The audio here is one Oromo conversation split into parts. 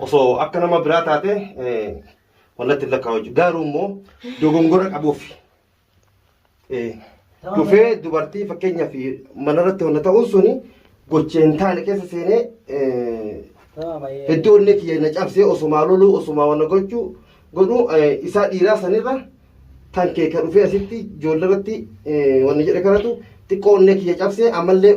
Osoo akka nama biraa taate wannatti lakkaa'u jechuudha. Garuu immoo dogongora qabuuf dhufee dubartii fakkeenyaaf manarratti wanna ta'uun suni gochee hin taane keessa seenee hedduu onnee kiyya na cabsee osumaa loluu osumaa wanna gochuu godhu isaa dhiiraa sanirra tan kee ka dhufee asitti ijoollee irratti wanna jedhe kanatu xiqqoo onnee kiyya cabsee ammallee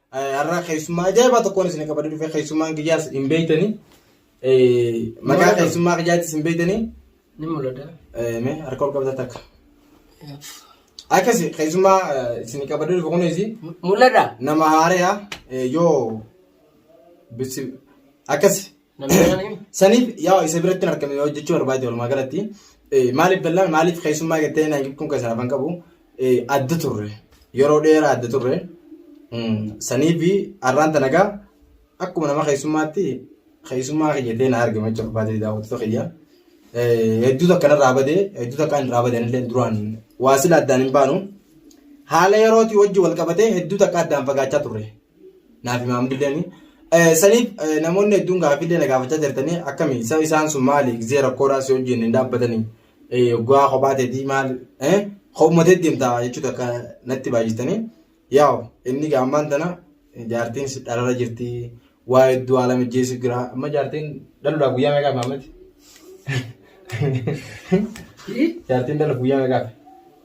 Har'a keessummaa ajaa'ibaa tokkoon isin qabadee dhufee keessummaan kiyyaas hin beektanii. Maqaa keessummaa kiyyaattis hin beektanii. Ni mul'ata. Mee harka ol qabda takka. Akkasi keessummaa isin qabadee dhufe kunis Mul'ata. nama haaraa yoo akkasi Namni saniif yaa isa biratti hin argame yoo jechuu barbaade walumaa galatti eh, maaliif bal'aan maaliif keessummaa gattee na kun keessaa afan qabu eh, adda turre yeroo dheeraa adda turre Mm, sanii fi har'aan tanagaa akkuma nama keessummaatti keessummaa kiyyatee na argame jechuu barbaade daawwattoota kiyya Eh, hedduu takka narraa badee hedduu takka hin raabadan illee duraan waa sila addaan hin baanu haala yerootii wajji wal qabatee hedduu takka addaan fagaachaa turre naaf himaam didanii. Saniif namoonni hedduun gaaffiillee na gaafachaa jirtanii akkami isa isaan sun maali gisee rakkoodhaa si wajjin hin dhaabbatanii guyyaa kophaa teetii maal kopuma teetti deemta jechuudha akka natti baay'istanii yaa'u inni gaammaan tana jaartiin dhalarra jirti waa hedduu haala mijeessu jira amma jaartiin dhaluudhaaf guyyaa meeqaaf maamati jaartiin dhaluuf guyyaa meeqaaf.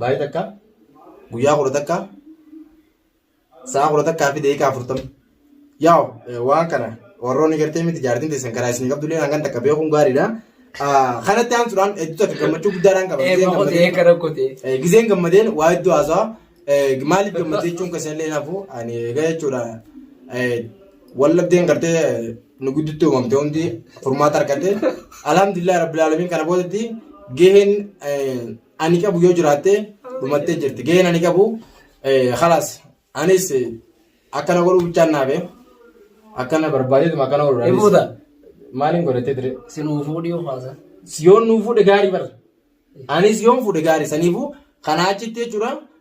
Baay'ee takka guyyaa kudha takka sa'a kudha takkaa fi deekaa afurtama. Yaa waan kana warroonni gartee miti jaartiin teessan karaa isin qabdu illee hangan takka beekuun gaariidha. Kanatti aansuudhaan hedduu takka gammachuu guddaadhaan qaba. Eebbaa kotee eegga rakkotee. Gizeen gammadeen waa hedduu haasawaa maaliif gammadee jechuun kan isinillee nafu ani egaa jechuudha. Wallabdeen gartee nu gidduutti uumamte hundi furmaata argatte. Alhamdulillah rabbil alamin kana boodatti gaheen ani qabu yoo jiraatte dhumattee jirti gaheen ani qabu kalaas anis akkana godhuu bichaan naafe akkana barbaadeetuma akkana godhu Hin fuuta? maaliin godhattee ture Si nuu fuudhii ufaasa. yoon nuu fuudhe gaarii bara anis yoon fuudhe gaarii saniifuu kanaa achitti jechuudha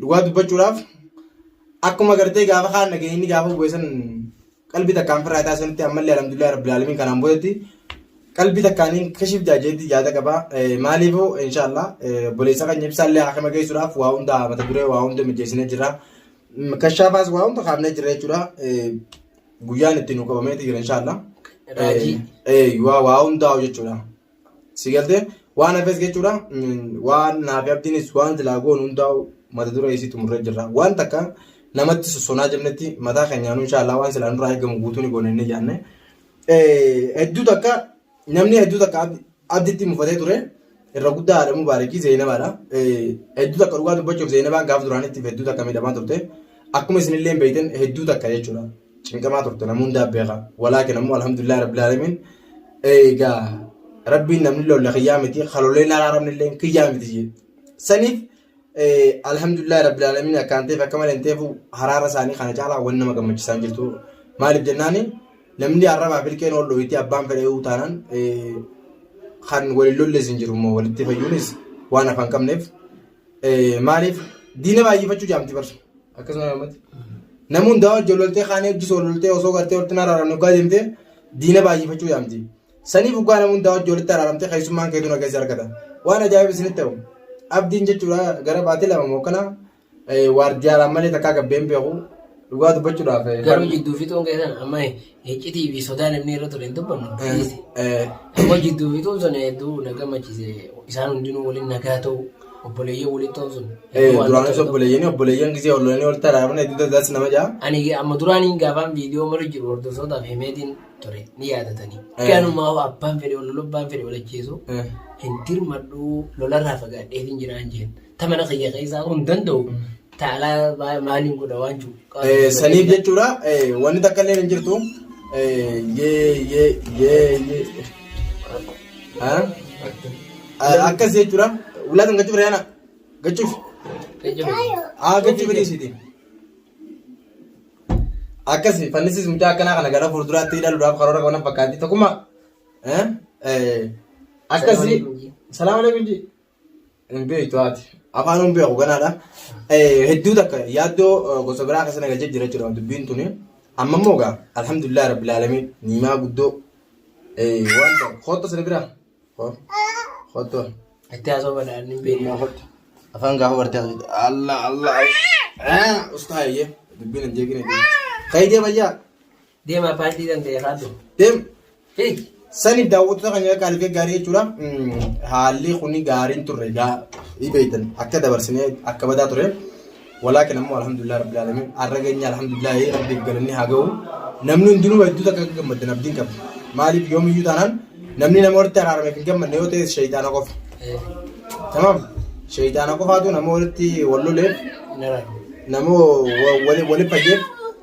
Dhugaa dubbachuudhaaf akkuma gartee gaafa kaan dhaga'e inni gaafa bu'e san qalbii takkaan firraa isaa sanitti ammallee alhamdulillah rabbil alamin kanaan boodatti qalbii takkaaniin kashif jaajeetti yaada qaba maaliifuu inshaallah boleessa kan ibsaallee haakama geessuudhaaf waa hunda mata duree waa hunda mijeessinee jira kashaafaas waa hunda kaafnee jira jechuudha guyyaan itti nu qabameeti jira inshaallah Raajii. waa waa hundaa'u jechuudha Si galtee waan hafes jechuudha waan naafi abdiinis waan silaa goon hundaa'u mata duree isii xumurree jirra. Waan takka namatti sossonaa jennetti mataa keenyaanuu inshaallah waan silaa nurraa eegamu guutuu ni goona inni jaanne. Hedduu takka namni hedduu takka abditti mufatee ture irra guddaa haadha mubaarakii zeenabaadha. Hedduu takka dhugaa dubbachuuf zeenabaan gaaf duraanitti hedduu takka miidhamaa turte. Akkuma isinillee beektan hedduu takka jechuudha. cinqamaa turte namuu hundaa beeka walaakin ammoo alhamdulillah rabbil alamin eegaa rabbiin namni lolla kiyyaa miti haloleen araaramni illee kiyyaa miti jee saniif alhamdulillah rabbil alamin akkaan ta'eef akka malee hin ta'eefu haraara isaanii kana caalaa waan nama gammachiisaan jirtu maaliif jennaani namni arrabaa filkeen ol dhooyitee abbaan fedhee taanaan kan waliin lollees hin jiru immoo walitti fayyuunis waan afaan qabneef Maaliif diina baay'ifachuu jaamti barsu akkasuma namatti. Namni hundaa wajji ol loltee kaanii hojii soo loltee osoo gartee walitti hin araaramne dhugaa deemtee diina baay'ifachuu jaamti. Saniif dhugaa namni hundaa wajji walitti araaramtee keessummaan keetu nageessi argata. Waan ajaa'iba isinitti ta'u. Abdiin jechuudha gara baatee lama moo kana waardiyaaraan malee takkaa gabbeen beeku dhugaa dubbachuudhaaf. Garuu jidduu fixuun keessan amma Iccitii fi sodaa namni irra ture hin dubbannu dhiise. Amma jidduu fi tuun sun hedduu na gammachiise. Isaan hundinuu waliin nagaa ta'u obboleeyyan waliin ta'u sun. hedduu waan Duraanis tokko- obboleeyyanii obboleeyyan gisee olloolanii ol taraafna itti tajaajilasi nama ja'a. Ani amma duraaniin gaafaan viidiyoo mara jiru hordoftoota fi meetiin ture ni yaadatanii. Eh. Ganumaa hoo abbaan fedhe ol lolu abbaan fedhe ol ajjeesu hin dirmadhu lolarraa fagaadheetiin jiraan jeen. ta mana kiyya keessaa kun danda'u ta alaa maa- maaliin godha waan jiru. Eh, saniif jechuudha eh, wanni takka illee hin jirtu Eh, yee yee yee yee Ha? Ah, akkas jechuudha ulaa kan gachuuf reena gachuuf haa gachuuf dhiisiti akkas fannisis mucaa akkanaa kana gara fuulduraatti ilaaluudhaaf karoora qaban fakkaatti tokkummaa Eh, eh, akkasi salaam alaikum ji Hin beektu haati. Afaan hin beeku ganaadha. Hedduu takka yaaddoo gosa biraa keessa nagalchee jira jechuudha dubbiin tuni. Amma immoo egaa alhamdulillah rabbil aalamiin niimaa guddoo waan ta'e kootta sirri biraa. Kootta. Itti haasoo badaan hin beekne. Niimaa kootta. Afaan gaafa bartee haasofte. Allah Allah. Ustaa eeyyee dubbiin hin jeeqine. Kaayidee bayyaa. Deemaa paartii kan ta'e haadhu. Deem. Hiik. Saniif daawwattoota kan akka algee gaarii jechuudha. Haalli kun gaariin turre gaa beektan akka dabarsinee akka badaa ture. Walaakin ammoo alhamdulillah rabbil alamin har'a geenye alhamdulillah rabbiif galanni haa ga'u. Namni hundinuu hedduu takka akka gammaddan abdiin qaba. Maaliif yoomiyyuu taanaan namni nama walitti araarameef hin gammadne yoo ta'e shayitaana qofa. Tamaam shayitaana qofaatu nama walitti wal loleef nama waliif fayyeef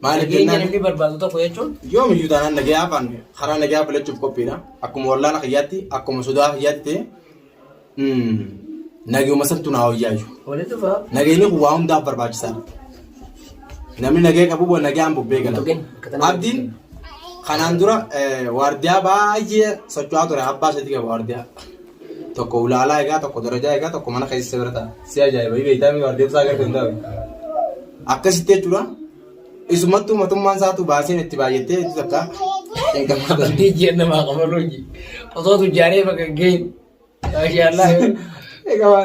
Maaliif Nageenya jennaan namni barbaadu tokko jechuun yoomiyyuu taanaan nagayaa afaan karaa nagayaa filachuuf qophiidha. Akkuma wallaala kiyyaatti akkuma sodaa kiyyaatti ta'e mm, nagayuma santu naa wayyaayyu. walitti dhufa. Nagayni kun waa hundaaf barbaachisaadha. Namni nagaya qabu waan nagayaan bubbee gala. Tokkeen akka tanaa- Abdiin kanaan dura eh, waardiyaa baay'ee socho'aa ture abbaa isaatti qaba waardiyaa. tokko ulaalaa egaa tokko darajaa egaa tokko mana keessa bira ta'a. Si ajaa'iba beektaa miti waan deemsaa agartee hin taa'u. Akkasitti jechuudha. Isumattuu matummaan isaatu baaseen itti baay'attee itti takka hin gammadan. Amantii ji'a namaa qaban hojii. Osoo tujjaaree bakka hin geenye. Maashaallah. Egaa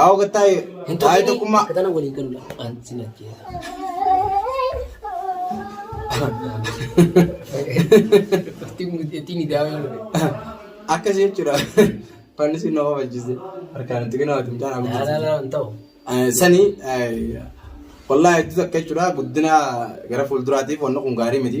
Awo gattaa'e Hin taa'e tokkinii tokkummaa. akka tana waliin galu laafaan si nyacheessa. Ittiin miidhaa waan ta'e. Akkas jechuudha. Fannisuun nama balchise. Harkaan itti kenna wajjin taa'an. Laalaa hin ta'u. Sani wallaahi hedduu takka jechuudha guddina gara fuulduraatiif wanna kun gaarii miti.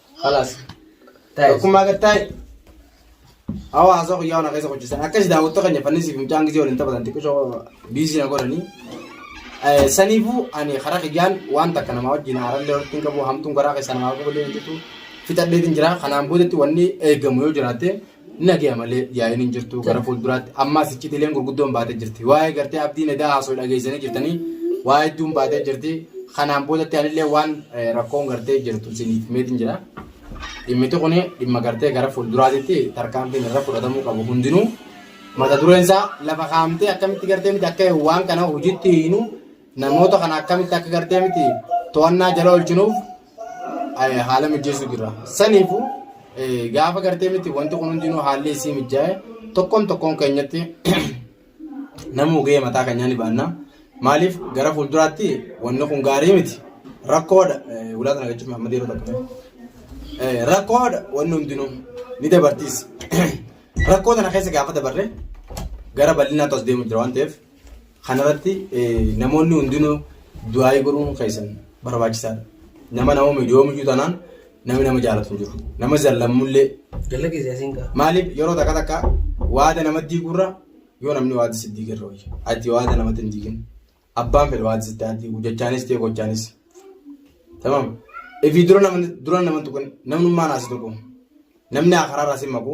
خلاص tokkummaa gad taa'e hawaasa guyyaa ona keessa hojjetan akkasi daawwattoota keenya fannisii fi mucaan gisee waliin taphatan xiqqishoo biizii na godhanii saniifuu ani karaa kiyyaan waan takka namaa wajjin haarallee walitti hin qabu hamtuun karaa keessa namaa qabu illee hin jirtu fixadheetiin jira kanaan boodatti wanni eegamu yoo jiraate Nagaya malee yaa'iin hin jirtu gara fuulduraatti ammaas iccitiileen gurguddoon baatee jirti. Waa'ee gartee abdiin edaa haasoo dhageessanii jirtanii waa hedduun baatee jirti. Kanaan boodatti anillee waan rakkoon gartee jirtu isiniif himeetiin jira. Dhimmiti kun dhimma gartee gara fuulduraatitti tarkaanfiin irra fudhatamuu qabu hundinuu mata dureen isaa lafa kaa'amtee akkamitti gartee miti akka waan kana hojiitti hiinu Namoota kana akkamitti akka gartee miti to'annaa jala oolchinuuf eh, haala mijeessuu jirra. Saniifu eh, gaafa gartee miti wanti kun hundinuu haalli isii mijaa'e tokkoon tokkoon keenyatti namuu gahee mataa keenyaa ni baanna. Maaliif gara fuulduraatti wanni kun gaarii miti. Rakkoodha. Eh, Ulaa sana jechuun Mahammad yeroo tokko. Eh, Rakkoodha wanni hundinuu ni dabartiis. Rakkoo sana keessa gaafa dabarre gara bal'inaatti as deemu jira waan ta'eef Kanarratti namoonni hundinuu du'aayii godhuun keessan barbaachisaadha. Nama nama miidhoo miidhuu tanaan namni nama jaalatu hin jiru. Nama zallammullee. Jalla keessa asiin kaa. Maaliif yeroo takka takka waada namatti diigurra yoo namni waada si diigerra wayya. Ati waada namatti hin diigin. Abbaan fedhe waada sitti haa diigu jechaanis ta'e gochaanis. Tamam. Ifii dura namni dura namni tokko namnummaan haasi tokko. Namni akaraarraa si maqu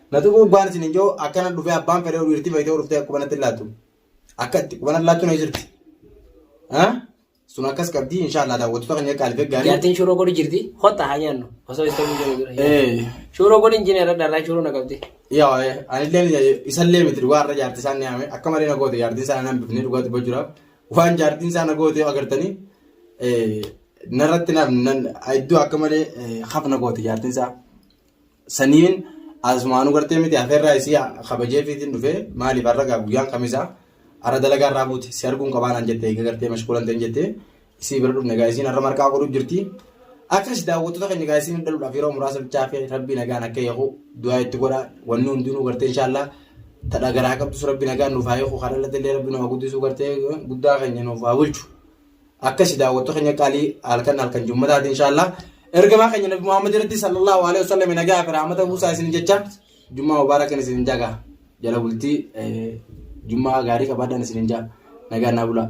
Na tuquu gubbaan isin hin jiru akkana dhufee abbaan fedhee dhiirtii fayyitee dhuftee akka qubanatti hin laattu. Akka itti qubanatti laattu na jirti. Sun akkas qabdi inshaallah daawwattoota keenya qaaliif eeggaanii. Jaartiin shuroo godhi jirti. Hotta haa nyaannu. Osoo isa hin jiru dura. Shuroo godhi hin jineera dharraa shuroo na qabdi. Yaa anillee isallee miti dhugaa irra jaartii isaan nyaame akka malee na goote jaartiin isaan naan bifnee dhugaa dubbaa jira. Waan jaartiin isaan na goote agartanii narratti iddoo akka malee haf na goote jaartiin isaa. Saniin asumaanuu gartee miti hafeerraa isii kabajee fiitiin dhufee maaliif har'a gaa guyyaan kamisaa har'a dalagaa irraa buute si arguun qabaa naan jette eega gartee mashkuulan ta'in jette isii bira dhufne gaa isiin har'a marqaa godhu jirti akka si daawwattoota keenya gaa isiin dhaluudhaaf yeroo muraasa bichaa fi rabbii nagaan akka eegu du'aa itti godha wanni hundinuu gartee inshaallah tadha garaa qabdus rabbii nagaan nuuf haa eegu kan dhalatee illee rabbii nu haa guddisuu gartee guddaa keenya nuuf haa bulchu. akkasi daawwattoota keenya qaalii halkan halkan jummataati inshaallah ergamaa keenya nabi muhammad irratti sallallahu alaihi wasallam nagaa fi rahmata buusaa isin jecha jummaa mubaarakan isin jaga jala bultii jummaa gaarii qabaadhaan isin jaa nagaa naa bulaa.